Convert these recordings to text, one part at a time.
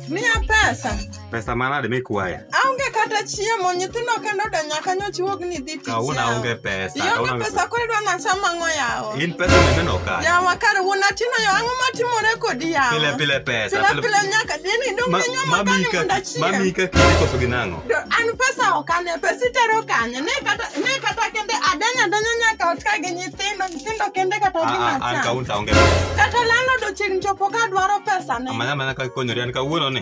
Miya pesa. Pesa manade mikwaya? Aonge kata chiemo, nyithindo kendo oda nyaka nyochiwogni dhi Kauna yao. unge pesa. Ionge kauna unge pesa koro idwa nasa mang'o yawo In pesa mineno ka. yawa kare wuon atino yo ang'o matimore kodi Pile yawa pile pesa. pile pile nyaka dini dong Ma- inywa Mami magani mondo ka achiem mami ka kinde koso ginang'o. Do- an pesa ok ane pesa itero kanye ne kata ne kata kende adanya adanya nyaka ot ka gi nyithindo nyithindo kende kata Ah, ah, An gimacham kaunta onge pesa. kata landlord ochiegni chopo ka dwaro pesa ne Amanya mana ka konyori an kawuono ni.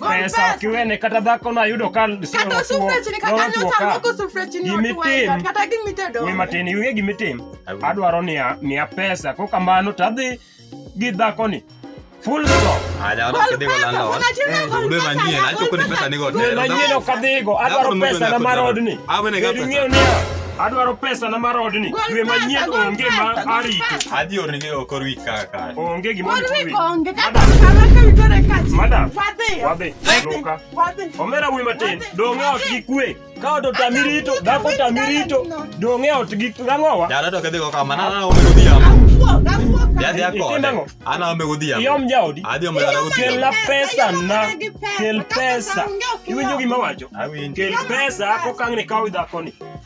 pesa kiwene kata dhako nayudo ka Kata sufre chini kata nyota moko sufre chini watu Gimitim. waenda kata gimitedo. ni matin iwinge gimitim Awinjo. adwaro ni a- miya pesa ko kamano to adhi gi dhakoni full stop Aja wana kede kwa landa wana. Eh, ude manyie na choko ni pesa nigo tero. manyien ok adhigo adwaro Dhako pesa na mar odni Awe ne ga Bedo pesa. ing'eyo niya adwaro pesa na mar odni Gol dwe pesa, manyien gol onge ma pesa, gol arito pesa. Adhi ornige okor wik kaka. Onge gima Pod wi konge ka Madam. kama ka witore kachi. Madam. Wadhi. Wadhi. Loka. Wadhi. Omera wuyi matin, dong' e ot gi kwe. Ka ot otami rito, dhako otami rito, dong' e ot gi ang'owa. Dala to kedhi go kama, na na ome godhiambo. Awuok, awuok. Dhi adhi Itimo akode. ang'o? Ana ome godhiambo. Iom jaodi. Adhi ome dala Kel godhiambo. na pesa na. Kel pesa. Iwinjo gima wacho? Awinjo. Kel pesa kokang' ni kaw dhakoni.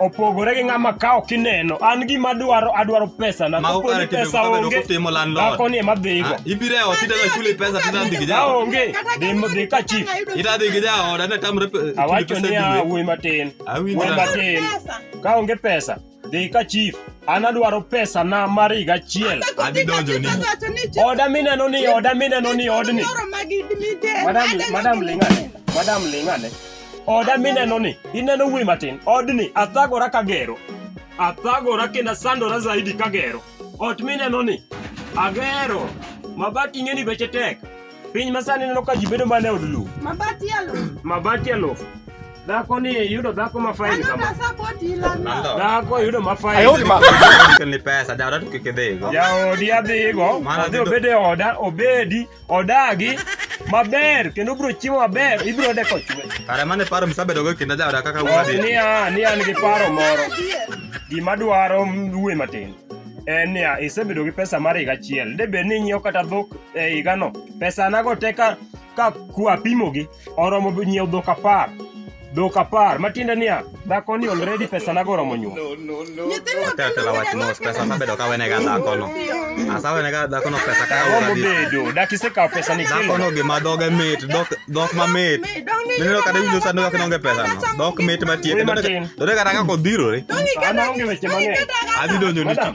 opogore gi ng'ama kawo kineno an gima adwaro adwaro pesa na Mago kare timbe pesa motelo onge kotimo landlord. dhako ni ema dhigo Ah, Ibiro e ot idwa chuli pesa to idadhi gi ka jaoda. onge dhi- dhi ka chief Idadhi gi jaoda ne tamre pe- chuli awacho pesa niya dwe. wuoyi matin Awinjo. wuoyi matin ka onge pesa dhi ka chief an adwaro pesa na mar higa achiel Adhi donjo ni. oda mineno ni oda mineno ni odni madam madam lingane madam lingane Oda mineno ni, ineno wuoyi matin, odni athagora kagero. Athagora kendo asandora zaidi kagero. Ot mineno ni, agero. Mabati ing'e ni beche tek. Piny masani ineno ka ji bedo mana e od lum. Mabati ya lo. Mabati ya lofu. Dhako ni yudo dhako ma fain Ano kama. kasa koti ilana. Landlord. Dhako yudo ma fain. Kelni pesa, jaoda to kik idhigo. Jaodi adhigo, Mano adhi adhi- obedo e oda, obedi, odagi maber kendo obiro chiemo maber ibiro yude kochwe Kare mane paro misabedogo e kinda jaoda kaka Wach wuodi. niya ni an gi paro moro gima dwaro wuoye matin en niya isebedo gi pesa mar higa achiel de bed ni inyiewo kata dhok e higano pesa nago te ka ka kwapimogi oromo bi nyiewo dhok apar dhok apar matiende niya dhako ni already pesa nago oromo nyuol Tetela wach mos pesa mabedo ka wenega dhakono. Asa wenega dhakono pesa ka oromo ora bi. bedo dak isekawo pesa ni kilo Dhakono gima dhoge mit, dhok dhok mamit. Mineno kata winjo sando kaka nonge pesa no. Dhok mit matiek. Dode kata kaka odhirore. An aonge weche mang'eny. Adhi donjo ni Madam,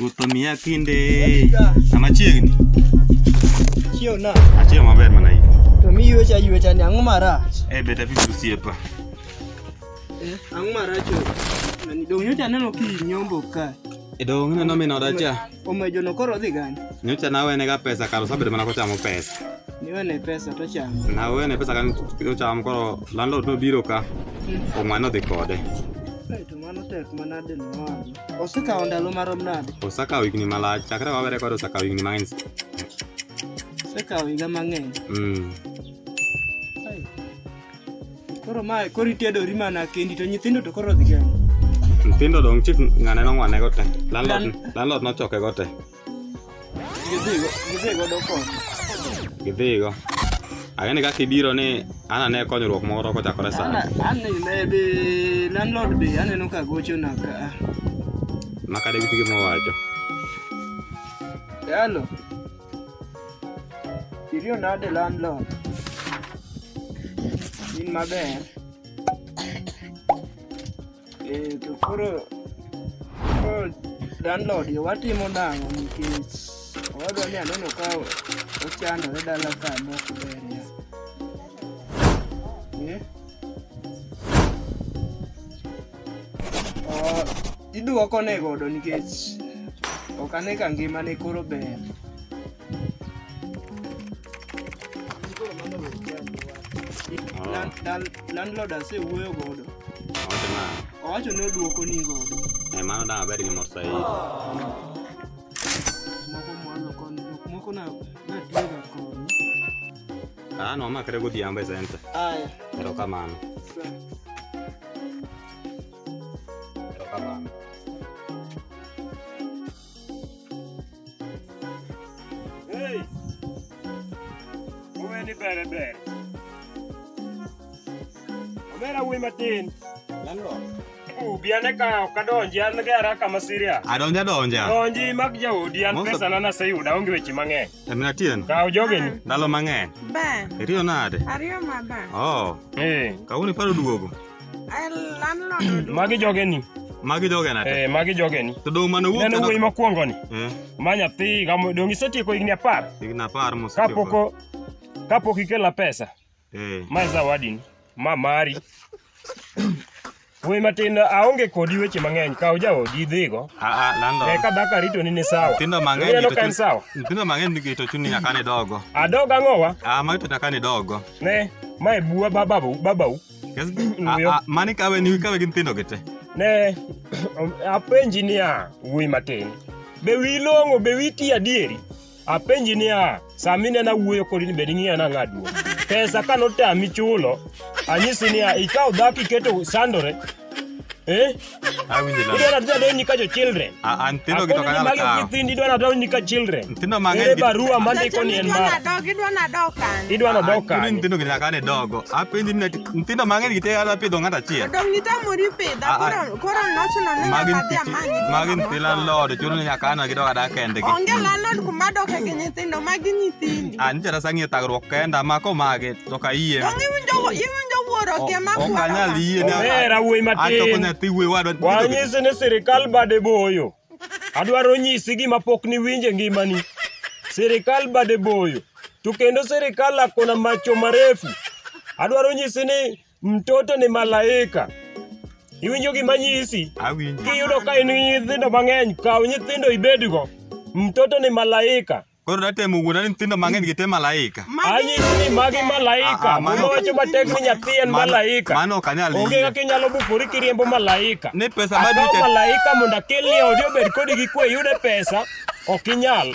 Ruoth omiya kinde sama chiegni. Chiew na. Achiew maber mana in. To mi yuecha yuecha ni ang'o marach? Eh beta vipi osiepa? Eh, ang'o marach? Nani dong nyocha aneno ki nyombo ka. E dong neno min oda cha. Omejo no koro dhi gani? Nyocha nawene ga pesa kar osabedo mana kochamo pesa. Niwene pesa to chamo. Nawene pesa kan ochamo koro landlord nobiro ka. Omwana odhi kode. Kae to mano tek manade no. Osekawo ndalo marom nade? Osekawo higni malach. Chakre wawere kode osekawo higni mang'eny. Osekawo higa mang'eny. Mm. Ai. Koro mae koro itedori mana kendi to nyithindo to koro dhi gani. Nyithindo dong' chief ng'ane nong'wane go te. Landlord Lan- landlord nochoke go te. gidhigo agani kaka ibiro ni anane konyruok moro kochakore sani Anene landlord be aneno ka gochona ka. makade gi gima owacho Hello. Iriyo nade landlord? In maber? Eh, to koro koro landlord yo watimo nang'o nikech owadwa ni aneno ka ochandore dala ka mok ber ya. Eh? Oh, iduoko ne godo nikech ok ane ka ngimane koro ber. Koro mano wer chandruok. Dal- dal- landlord asewuoyo godo Owacho nang'o? owacho ni odwoko ni godo Eh, mano dang' abed gi mor saidi. moko mwalo koni jok moko na natiyoga koni Ah, no, makre godhiambo e senta. aya Erokamano. sa Erokamano. Hey! Uwe ni bere bere. Omera wuoyi matin. Landlord. Ubi ane ka ok adonji an gera kama siria. Adonja donja. Donji mag jaodi an Most of- pesa na naseyuda onge weche mang'eny. Min Atieno, Kaw jogeni. ndalo mang'eny. Ba, Iriyo nade? ariyo ma ba. Oh, Eh, kawuono iparo duogo. Ay, landlord oduogo. magi jogeni. Magi jogena te. Eh, magi jogeni. To dong' mane owuok Neno wuoyi mokwongo ni. Eh, Ma nyathi gamo dong' isetieko higni apar higni apar kapok kapok ikela pesa. Eh. Ma zawadini, ma mari. Wuoyi matin aonge kodi weche mang'eny, kaw jaodi idhigo. Ah, ah, landlord. Eka dhaka ritoni ni sawa. Nyithindo mang'eny Ineno to ka en chun- sawa. Nyithindo mang'eny nigi to chuni nyaka ni dogo. Adog ang'owa, Ah, magi to nyaka ni dogo. ne, mae buwa ba- babau, babau. Yes. Ah, Wuoyo. ah, mani kawe ni kawe gi nyithindo gi te. Ne, apenji niya, wuoyi matin. Be wi long'o, be wi ti adieri? Apenji niya, sama inena wuoyo kodi ni bed ing'iya nang'a duong'. Pesa ka notami chulo, anyisi niya, ikaw dhako iketo sandore. Eh? Awinjo la. Idwa nata donji ka jo children. A- a nyithindo gi to Akoni ni kanyal magi kawo. nyithindo idwa nata donji ka children. Nyithindo mang'eny Ere gi- barua mandiko ni en Idwa mara. nadok, idwa nadok kanye? Idwa nodok Kuni kanye? nyithindo gi nyaka ne dogo. Apenji ni nyithindo mang'eny gi te ala pidho ng'ato achiel. Dong' nitamori pidha, A- a- koro Koro nochuno ni Magi nyaka dhi nyithi- amany nyithindo magi nyithi moko. landlord chuno ni nyaka ana gidog adak kendgi Onge landlord kuma doke gi nyithindo magi nyithindi. a nitere sang'ie thagruok kenda mako mage to ka yie Donge iwinjo iwinjo wuoro kia ma ok anyal yie ne Omera wuoyi achoko matin. nyathi wuoyi wadwa Wanyisi ni sirikal bade boyo. Adwaro nyisi gima pok niwinje ngimani. Sirikal bade boyo. To kendo sirikal akona macho marefu. Adwaro nyisi ni Mtoto ni malaika. Iwinjo gima nyisi? Awinjo. Kiyudo ka in gi nyithindo mang'eny, kaw nyithindo ibedgo. Mtoto ni malaika. Koro natemo wuona ni nyithindo mang'eny gite malaika. Anyisi ni magi Ah, ah, malaika. mano- Muma wacho matek ni nyathi en Mano- malaika. Mano ok anyal Onge yie. kaka inyalo bukori kiriembo malaika. Ni pesa Akaw madike. malaika mondo akelni e odi obed kodi gi kwe iyude pesa, ok inyal.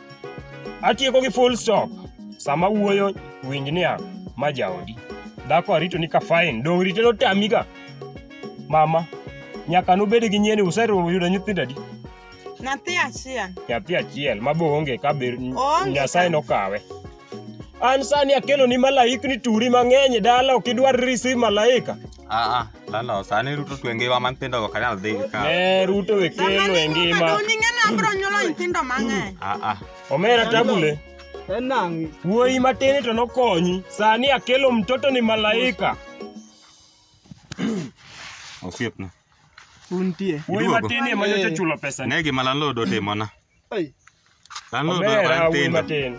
Atieko gi full stop. Sama wuoyo winj niya ma jaodi. Dhako arito ni ka fine dong' rite notami ga. Mama nyaka nubed gi nyieni useruwo yudo nyithindo adi? Nyathi achiel. Nyathi achiel ma boonge ka be Oonge Nyasaye ka. nokawe. An sani akelo ni malaikni turi mang'eny e dala ok idwar receive malaika. Aa, lalo, sani Ruto twe ngiwa man pindo go kanal dhi ka. Ne Ruto we kelo e ngima. Uning'eni abiro nyuolo nyithindo mang'eny. Aa, Omera tabule. Enang'i. Wuoyi matin to nokonyi. Sani akelo mtoto ni malaika. osiepna. Untie. Wuoyi Iduogo. matin ema nyocha chulo pesa ni. Ne gima landlord otimona. Ai, Dhano odwaro Omera wuoyi nyithindo. matin.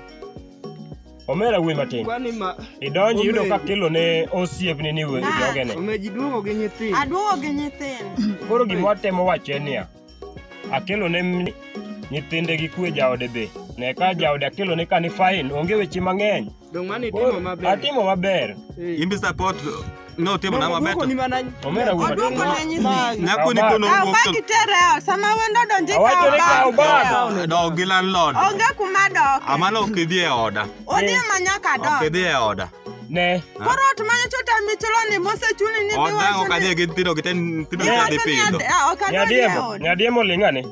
Omera wuoyi matin. kwani ma Idonji yudo ka kilo ne osiepni ni we- jogene. omeji duogo gi nyithindo. Aduogo gi nyithindo. Koro gima watemo wacho en niya, akelo ne mni nyithinde gi kwe jaode be. Ne ka jaode akelo ne ka ni fine, onge weche mang'eny. Dong mani timo maber. Atimo maber. Imbi support no timo na maber. Dwoko ni mana Omera wuon. Odwoko na nyithindo. Nyako ni kono Kaw wuok bag to itere ot. Sama wendo donjo ikaw Awacho ni kaw bag bag. itere ot. dog gi landlord. Onge kuma dok. Amano ok idhi e oda. Odhi ma nyaka Ok dok. idhi e oda. Ne. Koro ot ma nyocha otami chulo ni mosechuli ni Oda ok adhi gi nyithindo gite nyithindo gite adhi pidho. Nyadiemo, nyadiemo ling'ane.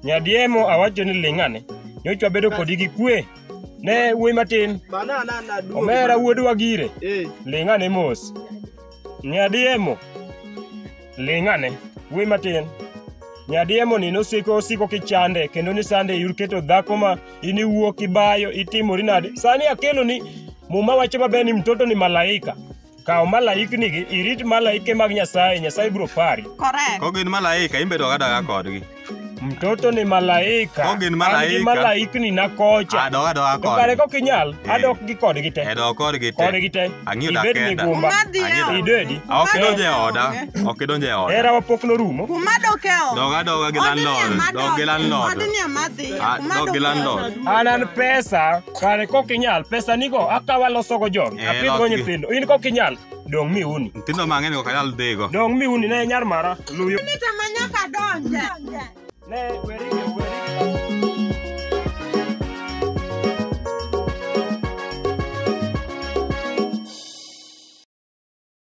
Nyadiemo awacho ni ling' ane. Nyocha wabedo kodi gi kwe. Ne wuoyi matin. Bana na na duo. Omera wuod Wagire. Eh. Ling' ane mos. Nyadiemo. Ling' ane. Wuoyi matin. Nyadiemo ni nosiko osiko kichande kendo ni sande yur keto dhako ma in iwuok ibayo itimori nade. Sani akelo ni muma wacho maber ni mtoto ni malaika. Kaw malaiknigi, irit malaike mag Nyasaye, Nyasaye biro pari. Correct. Ko gin malaika, imbe doga doga kodgi. Mtoto ni malaika. Ko gin malaika. An gi malaikni na kocha. A doga doga kodgi. To kare kok inyal, eh. adok gi kodgi te. E dok kodgi te. Kodgi te. Ang'iyo da kenda. Ibed migumba. Ang'iyo. Idedi. Ok idonje e oda. Ok idonje e oda. Era wapok norumo. Kuma doke o. Doga doga gi landlord. Dog gi landlord. Odni amadhi. Dog gi landlord. An an pesa. Kare kok inyal, pesa nigo akawa losogo jogi, Eh, apidhgo losgi. nyithindo. In kok inyal, dong' mi uni. Nyithindo mang'eny ok anyal dhigo. Dong' mi uni ne nyar mara. Luyo. Nita ma nyaka donje. Ne weri gi weri.